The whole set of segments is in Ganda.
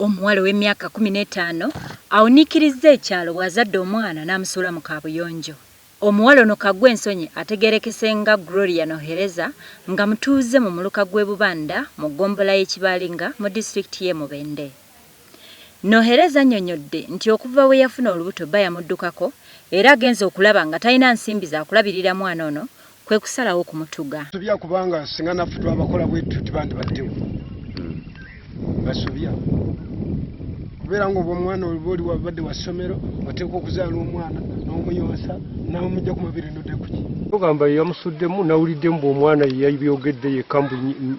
Omuwala ow'emyaka kkumi n'etaano awuniikirizza ekyalo bw'azadde omwana n'amusuula mu kaabuyonjo. Omuwala ono Kaggwensonyi ategeerekese nga Gloria Nohereza nga mutuuze mu muluka gw'e Bubanda mu ggombolola y'e Kibaalinga mu disitulikiti y'e Mubende. Nohereza annyonnyodde nti okuva bwe yafuna olubuto bba yamuddukako era agenze okulaba nga talina nsimbi za kulabirira mwana ono kwe kusalawo okumutuga. Basobya kubanga singa naffe twabakola bwe tutyo tebandibaddewo. Basobya kubeera ng'obwo omwana oba oli wabadde wa ssomero oteekwa okuzaala omwana n'omuyonsa n'omujja ku mabiri nodde kuki. Ogamba yamusuddemu nawulidde mbu omwana ye yabyogedde yekka mbu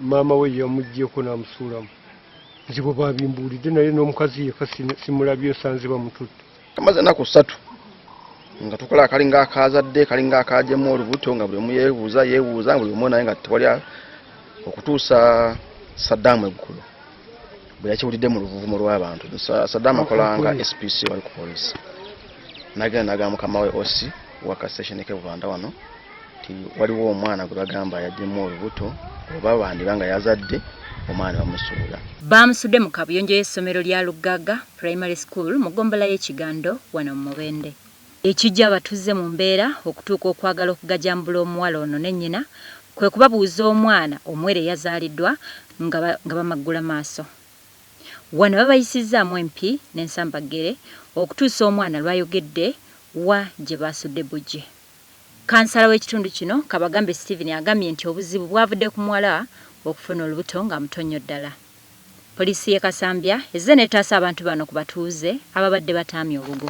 maama we ye yamuggyeko n'amusuulamu. nze bwe babimbuulidde naye n'omukazi yeka simulabye nsanze bamututte amaze enaku ssatu nga tukola akalinga akazadde kalinga akajemu olubuto nga buli omu yebuuza yebuuza buli omu naye nga tewali okutuusa sadaamu eggulu bwe yakiwulidde mu luvuvumo lw'abantu sadaamu akolanga spc wali ku polisi nagenda nagamba mukama we osi waka station ke bubanda wano nti waliwo omwana gwe bagamba yaddemu olubuto oba bandiba nga yazadde omwana bamusuula baamusudde mu kabuyonjo y'essomero lya luggaga primary school mu gombola y'ekigando wano mu mubende ekijja abatuzze mu mbeera okutuuka okwagala okugajambula omuwala ono ne nnyina kwe kubabuuza omwana omuwere yazaaliddwa nga bamaggula maaso wano babayisizzaamu empi n'ensambaggere okutuusa omwana lwayogedde wa gye baasudde bujje Kansala w'ekitundu kino Kabagambe Steven agambye nti obuzibu bwavudde ku muwala okufuna olubuto nga muto nnyo ddala. Poliisi y'e Kasambya ezze n'etaasa abantu bano ku batuuze ababadde bataamye obugo.